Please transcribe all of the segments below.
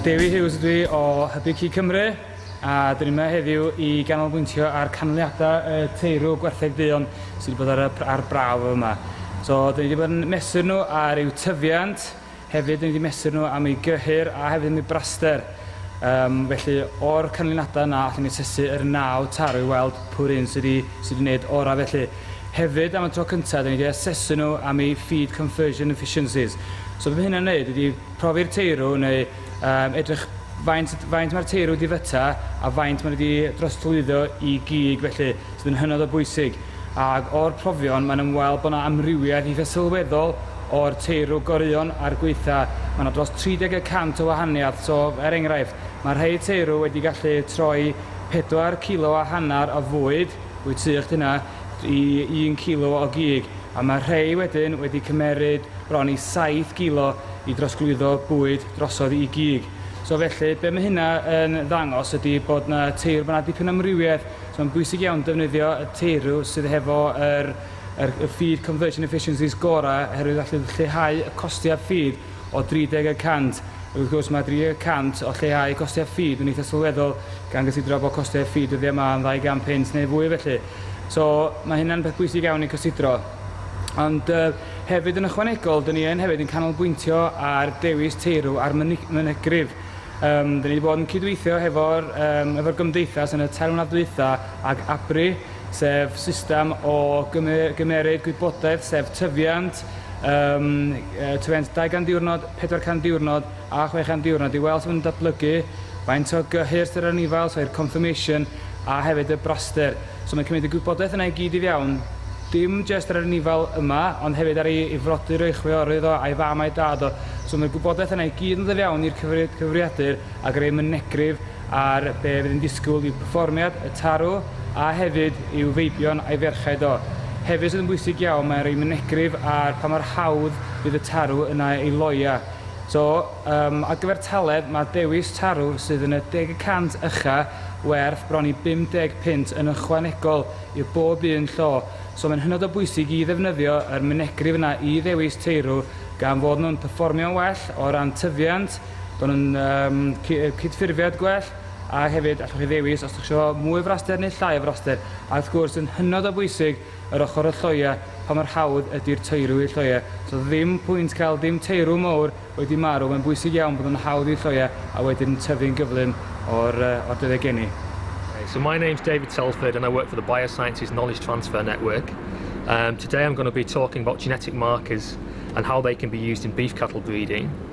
Dewi Hughes ydw i o Hybu Cig Cymru a dyn ni'n yma heddiw i ganolbwyntio ar canlyniadau y teirw gwertheg duon sydd wedi bod ar, y, ar braf yma. So, dyn ni wedi bod yn mesur nhw ar eu tyfiant, hefyd dyn ni wedi mesur nhw am eu gyhyr a hefyd am eu braster. Um, felly, o'r canlyniadau yna, allwn ni asesu yr naw tarw i weld pwy'r un sydd wedi, sy wedi gwneud orau felly. Hefyd, am y tro cyntaf, dan ni 'di asesu nhw am eu feed conversion efficiencies. So be mae hynna'n wneud ydy profi'r teirw neu yym edrych faint faint mae'r teirw 'di fyta a faint maen nhw 'di drosglwyddo i gig felly, sydd yn hynod o bwysig. Ac o'r profion mae'n ymweld bod 'na amrywiaeth eitha' sylweddol o'r teirw goreuon a'r gweitha'. Mae 'na dros 30 y cant o wahaniaeth, so er enghraifft, mae rhai teirw wedi gallu troi pedwar cilo a hanner o fwyd, Wyt ti o'ch dynna i un cilo o gig, a mae rhei wedyn wedi cymeryd bron i saith gilo i drosglwyddo bwyd drosodd i gig. So felly, be mae hynna yn ddangos ydy bod na teirw, bod na dipyn o amrywiaeth, so mae'n bwysig iawn defnyddio y teirw sydd hefo yr yr y feed conversion efficiencies gora, oherwydd allu lleihau y costiau feed, o 30 y cant, ac wrth gwrs mae 30 y cant o lleihau costau ffid yn eitha' sylweddol gan gysidro bod costau ffid dyddiau yma yn ddau gan punt neu fwy felly. So mae hynna'n peth bwysig iawn i cysidro. Ond yy hefyd yn ychwanegol, dyn ni yn hefyd yn canolbwyntio ar dewis teirw a'r mynegrif. Yym dyn ni wedi bod yn cydweithio hefo'r yym efo'r gymdeithas yn y tair mlynedd dwytha ag ABRI, sef system o gyme- gymeryd gwybodaeth sef tyfiant, Yym, yy, twent 200 diwrnod, 400 diwrnod a 600 diwrnod i weld sut maen nhw'n datblygu, faint o gyhyrth sydd ar anifail, so i'r confirmation, a hefyd y braster. So mae'n cymryd y gwybodaeth yna i gyd i fewn, dim jyst ar yr anifail yma, ond hefyd ar ei ei frodyr o, ei chwiorydd o, a'i fam a'i dad o. So mae'r gwybodaeth yna i gyd yn dod i fewn i'r cyfri- cyfrifiadur a greu mynegrif ar be fydd yn disgwyl i'w perfformiad, y tarw, a hefyd i'w feibion a'i ferched o. Hefyd sydd yn bwysig iawn mae'n rhoi mynegrif ar pa mor hawdd fydd y tarw yna i loia. So, yym, ar gyfer talent mae dewis tarw sydd yn y deg y cant ucha' werth bron i 50 punt yn ychwanegol i'r bob un llo, so mae'n hynod o bwysig i ddefnyddio yr mynegrif yna i ddewis teirw gan fod nhw'n perfformio'n well o ran tyfiant, Maen nhw'n um, cydffurfiad gwell a hefyd allwch chi ddewis os ydych chi eisiau mwy o fraster neu llai o fraster. A wrth gwrs yn hynod o bwysig yr ochr y lloia pa mor hawdd ydy'r teirw i'r lloia. So ddim pwynt cael dim teirw mowr wedi marw, mae'n bwysig iawn bod nhw'n hawdd i'r lloia a wedyn yn tyfu'n gyflym o'r, uh, o'r dyddiau geni. So my name's David Telford and I work for the Biosciences Knowledge Transfer Network. Um, today I'm going to be talking about genetic markers and how they can be used in beef cattle breeding.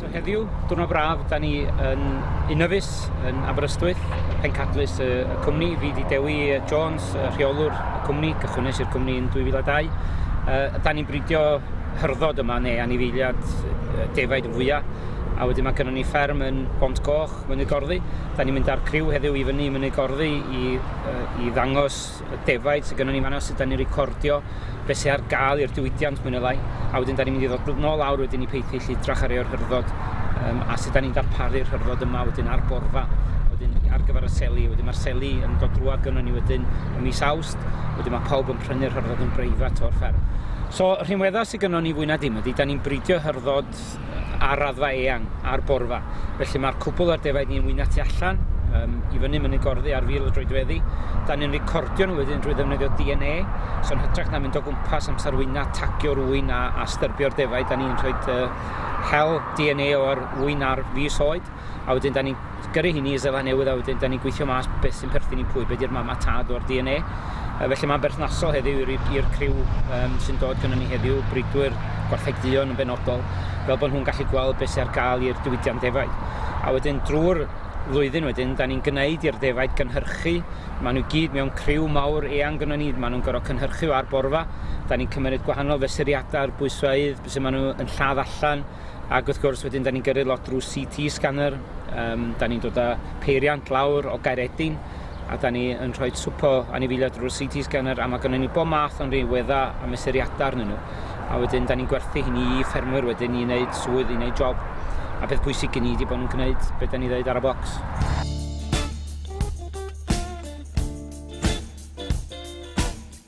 So heddiw, diwrnod braf, da ni yn Unofus, yn Aberystwyth, pencadlys y cwmni, fi di Dewi Jones, rheolwr y cwmni, cychwynnes i'r cwmni yn 2002. Uh, da ni'n bridio hyrddod yma, neu anifeiliad defaid yn fwyaf, a wedyn mae gennym ni fferm yn Bont Goch, Mynydd Gorddi. Da ni'n mynd â'r criw heddiw i fyny i Mynydd Gorddi i, uh, i ddangos y defaid sydd gennym ni fanno, sut 'dan ni'n recordio be' sy ar gael i'r diwydiant mwy ne' lai, a wedyn 'dan ni'n mynd i ddod nôl lawr wedyn i Paisley i edrach ar eo'r hyrddo yym a sut 'dan ni'n darparu'r hyrddo yma wedyn ar borfa wedyn ar gyfer y seli, wedyn mae'r seli yn dod drwad gynnon ni wedyn ym mis Awst, wedyn mae pawb yn prynu'r hyrddo yn breifat o'r fferm. So rhinwedda sy gynnon ni fwy na dim ydy 'dan ni'n bridio hyrddo ar raddfa eang ar borfa. Felly mae'r cwbl ar defaid ni yn wyna tu allan, um, i fyny mynd yn gorddi ar fil y droedfeddi. Da ni'n recordio nhw wedyn drwy ddefnyddio DNA, so'n hytrach na mynd o gwmpas amser wyna, tagio rwy'n a, a styrbio'r defaid, da ni'n rhoi uh, hel DNA o'r wyna ar fus oed, a wedyn da ni'n gyrru hynny i Seland Newydd a wedyn da ni'n gweithio mas beth sy'n perthyn i pwy, beth yw'r mam a tad o'r DNA. Uh, felly mae'n berthnasol heddiw i'r criw um, sy'n dod gyda ni heddiw, bridwyr, gwarthegdion yn benodol, fel bod nhw'n gallu gweld beth sy'n ar gael i'r diwydiant defaid. A wedyn drwy'r flwyddyn wedyn, da ni'n gwneud i'r defaid gynhyrchu. Maen nhw gyd mewn criw mawr eang gyda ni, maen nhw'n gorfod cynhyrchu ar borfa. Da ni'n cymryd gwahanol fesuriadau, bwysfeydd, beth sy'n maen nhw'n lladd allan, ac wrth gwrs wedyn da ni'n gyrru lot drwy CT scanner, um, da ni'n dod â peiriant lawr o Gairedin, a da ni yn rhoi swpo anifeiliaid drwy'r CT scanner, a mae gennym ni bob math o'n rhywedda a mesuriadau arnyn nhw. A wedyn, da ni'n gwerthu hynny i ffermwyr wedyn i wneud swydd, i wneud job. A beth bwysig gen i wedi bod yn gwneud beth da ni ddweud ar y bocs.